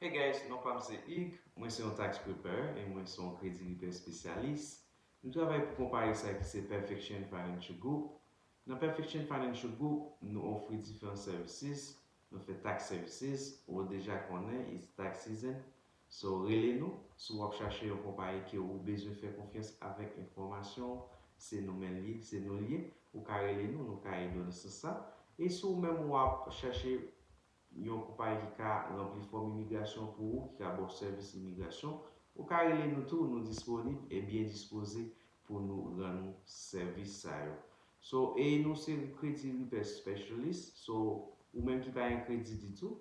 Hey guys, non pam se Hugues, mwen se yon tax preparer e mwen se yon kredi repair spesyalis. M travay pou konpayi sa ki se Perfection Financial Group. Nan Perfection Financial Group, nou ofri diferan services, nou fè tax services, wou deja konnen it's tax season, so rele nou si wap chache yon konpayi ke wou bezwen fè konfyans avèk enfòmasyon w, se nou menl ye, se nou l ye, wou ka rele nou, nou ka ede w nan sans sa, e si wou menm wap chache yon konpayi ki ka ranpli fòm imigrasyon pou ou, ki ka ba w sèvis imigrasyon, ou ka rele nou tou, nou disponib e byen dispoze pou nou rann ou sèvis sa yo. So, e nou se kredi Repair Specialist, so, ou menm ki pa gen kredi ditou,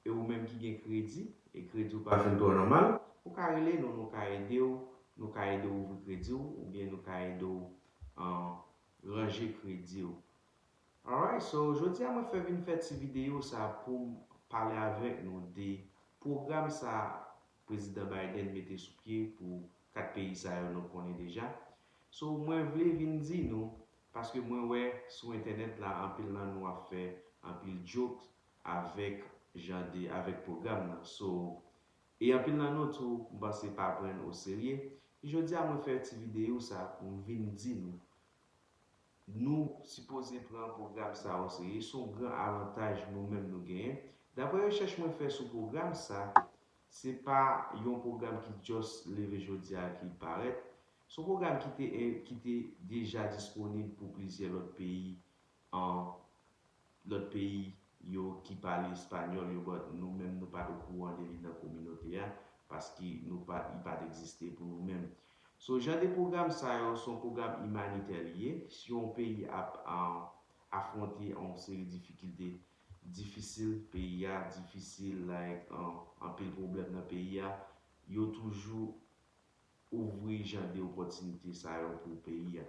e ou menm ki gen kredi, e kredi w pa fin twò nòmal, ou ka rele nou, nou ka ede w, nou ka ede w ouvri kredi w, oubyen nou ka ede w ranje kredi w. Alright so jodia mwen fè vin fè ti video sa poum pale avèk nou de pwogram sa prezidan Biden mete sou pye pou 4 peyi sa yo nou konnen deja so mwen vle vin di nou paske mwen wè sou entènèt la anpil nan nou ap fè anpil jokes avèk jan de avèk pwogram nan so e anpil nan nou tou m panse pa prann o serye jodia mwen fè ti video sa poum vin di nou Nou sipoze pran pwogram sa oseye, s on gran avantaj nou menm nou genyen. Daprè rechèch mwen fè sou pwogram sa, se pa yon pwogram ki just leve jodi a ki parèt, s on pwogram ki te ki te deja disponib pou plizyè lòt peyi an Lòt peyi yo ki pale espanyòl yo but nou menm nou pat okouran de li nan kominote a paske nou pa li pat egziste pou nou menm. So jan de pwogram sa yo son pwogram imanitè li ye si on peyi ap afwonte on seri difikilte difisil peyi a difisil like anpil pwoblèm nan peyi a yo toujou ouvri jan de opòtinite sa yo pou peyi a.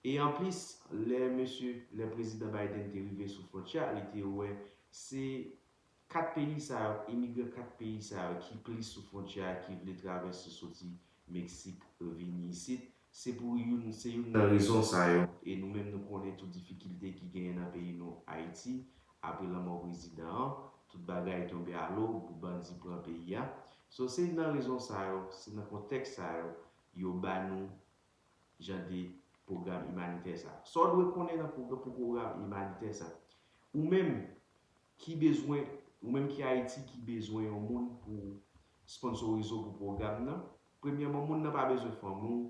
E anplis, lè mesye, lè Prezidan Biden te rive sou fwontyè a, li te wè se 4 peyi sa yo, imigran 4 peyi sa yo ki plis sou fwontyè a ki vle travèse soti Meksik vini isit. Se pou youn, se youn nan rezon sa yo. E nou menm nou konnen tou difikilte ki genyen nan peyi nou Ayiti Apre lanmò prezidan an, tout bagay tonbe alo pou bandi pran peyi a. So se nan rezon sa yo, se nan kontèks sa yo, yo ba nou jan de pwogram imanitè sa. Sa w dwe konnen nan pou pwogram imanitè sa. Ou menm ki bezwen, ou menm ki Ayiti ki bezwen yon moun pou sponnsorize w pou pwogram nan, premyèman moun nan pa bezwen fanmi w,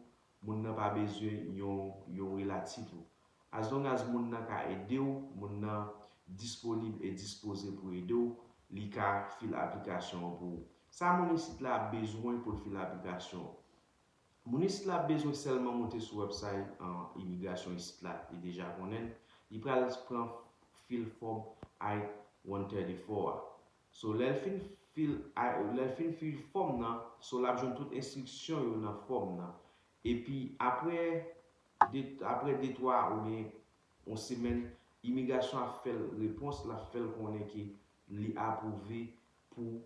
Moun nan pa bezwen yon yon relatif ou. As long as moun nan ka ede w, moun nan disponib e dispoze pou ede w, li ka fil aplikasyon an pou ou. Sa moun isit la ap bezwen pou l fil aplikasyon an? Moun isit la ap bezwen sèlman moute sou wèbsay imigrasyon isit la, li deja konnen l, li pral pran fil fòm I-134 a. So lè l fin fil lè l fin fil fòm nan so l ap jwenn tout enstriksyon yo nan fòm nan. Epi aprè de aprè de twa oubyen yon semèn imigrasyon ap fè l repons l ap fè l konnen ke li apwouve pou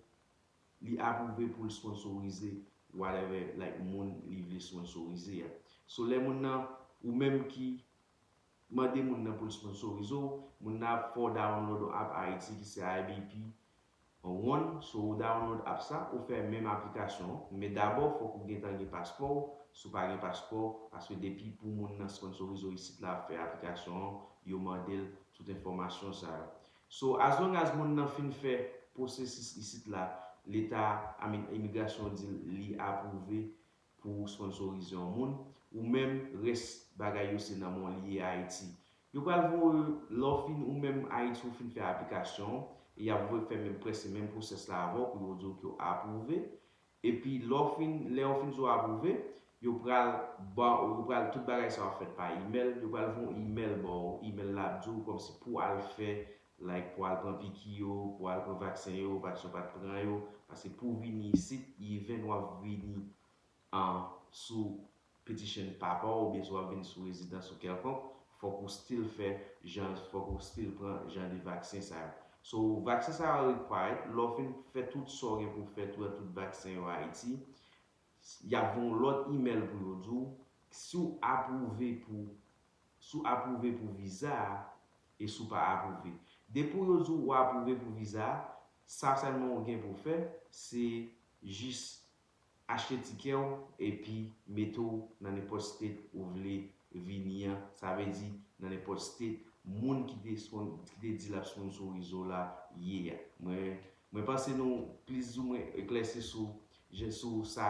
li apwouve pou l sponsorize whatever like moun li vle sponsorize a. So lè moun nan ou menm ki Mande moun nan pou l sponsorize w, moun nan ap fè w download on app Ayiti ki se IBP One, so ou download app sa, ou fè menm aplikasyon an, men dabò fòk ou gentan gen paspò w, si w pa gen paspò, paske depi pou moun nan sponsorize w isit la ap fè aplikasyon an, yo mande l tout enfòmasyon sa yo. So as long as moun nan fin fè pwosesis isit la, leta, I mean imigrasyon di l li apwouve pou ou sponsorize yon moun ou menm res bagay yo se nan men w li ye ayiti yo pral voye lè w fin ou menm ayiti ou fin fè aplikasyon w e yap voye fè menm prese menm pwosès la avè w pou yo di w ke w apwouve epi lè w fin lè yo fin di w apwouve yo pral ba w yo pral tout bagay sa yo ap fèt pa imèl yo pral voye yon imèl ba w imèl la ap di w kòmsi pou al fè like pou al pran piki yo pou al pran vaksen yo paske yo pat pran yo paske pouw vini isit even wap vini an sou piti chen papaw oubyen si wap vini sou rezidans ou kèlkonk fòk ou still fè jan fòk ou still pran jan de vaksen sa yo so vaksen sa yo required lèw fin fè tout sa ou gen pouw fè pran tout vaksen yo ayiti yap voyw lòt email pou yo diw siw apwouve pou si w apwouve pou viza a e si w pa apwouve. Depi w yo di w ou apwouve pou viza a, sa sèlman ou gen pou w fè, se jis achte tikè w epi mete w nan nenpòt state ou vle vini an, sa vle di nan nenpòt state moun ki te ki te di l ap sponsorize w la ye a. Mwen mwen panse nou plizoumwen eklèsi sou sou sa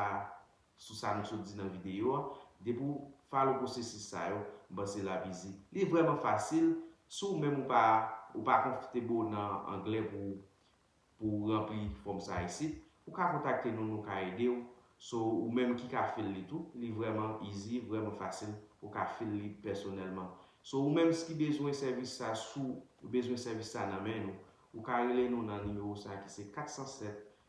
Sou sa nou sot di nan videyo a, depi w follow pwosesis sa yo, m panse lap easy. Li vrèman fasil, si w menm ou pa ou pa comfortable nan anglè pou w pou w ranpli fòm sa isit, ou ka kontakte nou nou ka ede w, so ou menm ki ka fill li tou, li vrèman easy, vrèman fasil, ou ka fill li pèsonèlman. So ou menm ki bezwen sèvis sa, si w bezwen sèvis sa nan men nou, ou ka rele nou nan nimewo sa ki se 407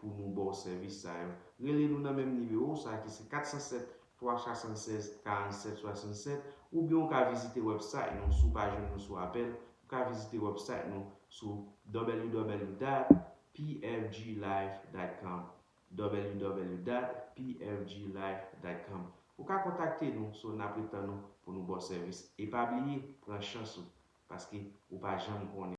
pou nou ba w sèvis sa yo. Rele nou nan menm nimewo sa ki se 407 376 47 67 oubyen ou ka vizite wèbsayt nou si w pa jwenn nou sou apèl ou ka vizite wèbsayt nou sou ww dat pfglife dat com ww dat pfglife dat com Ou ka kontakte nou so n ap ret tann ou pou nou ba w sèvis e pa bliye pran chans ou paske ou pa janm konnen.